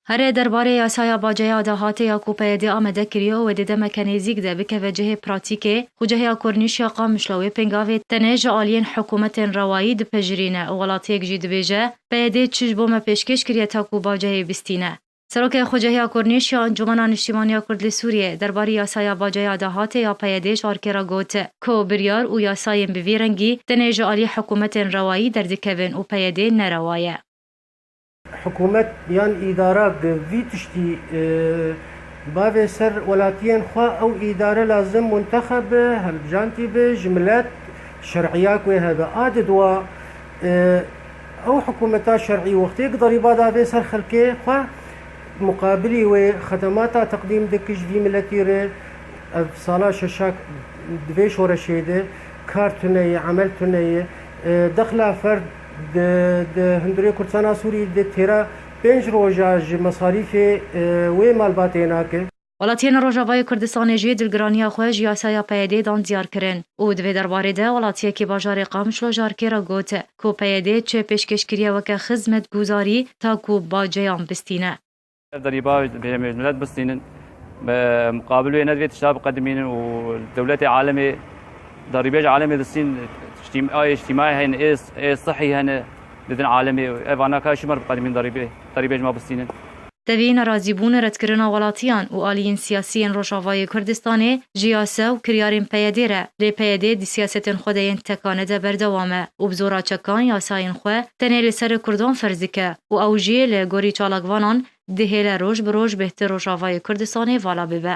Herê derbarê yasaya baceya dahatê ya ku PYD'ê amade kiriyo wê di demeke nêzîk de bikeve cihê pratîkê û ceheya Kornîş ya Qamişlo wê pêngavê tenê ji aliyên hikûmetên rewayî dipejirîne û welatiyek jî dibêje PYD'ê çi ji bo me pêşkêş kiriye ta ku bacehê bîstîne. Serokê xwecehiya Kornîş ya Encûmena Niştîman ya Kurd li Sûriyeyê derbarî yasaya baceya dahatê ya PYD'ê ji arkê re got ku biryar û yasayên bi vî rengî tenê ji aliyê hikûmetên rewayî derdikevin û PYD'ê nerewa ye. Hikûmet yan îdara bi vî tiştî bavê ser welatiyên xwe ew îdare lazim muntexeb be, hilbijantî be ji milet, şerîya ku hebe. A di dua ew hikûmeta şerî wextê giderîba davê ser xelkê xwe, muqabilî wê xedemata teqdîm dike ji vî miletî re. Ev sala şeşa di vê şoreşê de kar tune ye, emel tune ye. Dexla ferd. Di hundirê Kurdistana Sûrî de têra pênc roj a ji mesarîfê wê malbatê nake. Welatiyên Rojavayê Kurdistanê jî dilgiraniya xwe ji yasaya PYD'ê dan diyar kirin û di vê derbarê de welatiyekî bajarê Qamişlo ji ARK'ê re got ku PYD çê pêşkêş kiriye weke xizmetguzarî ta ku baceyan bistîne. Derî bav bi hêmê milet bistînin. Bi muqabil wê nedivê tişta biqedimînin û dewletê alemê darîbêj alemê distîn ayê îjtîmayê heyne ê ê sihî hene didin alemê ev anaka şî mar biqedimîn darîbê darîbêj ma bistînin. Tevî nerazîbûn, redkirina welatiyan û aliyên siyasî yên Rojavayê Kurdistanê ji yasa û kiryarên PYD re lê PYD di siyasetên xwe de yên tekane de berdewam e û bi zora çekan yasayên xwe tenê li ser kurdan ferz dike. û ew jî li gorî çalakvanan dihêle roj bi roj bêhtir Rojavayê Kurdistanê vala bibe.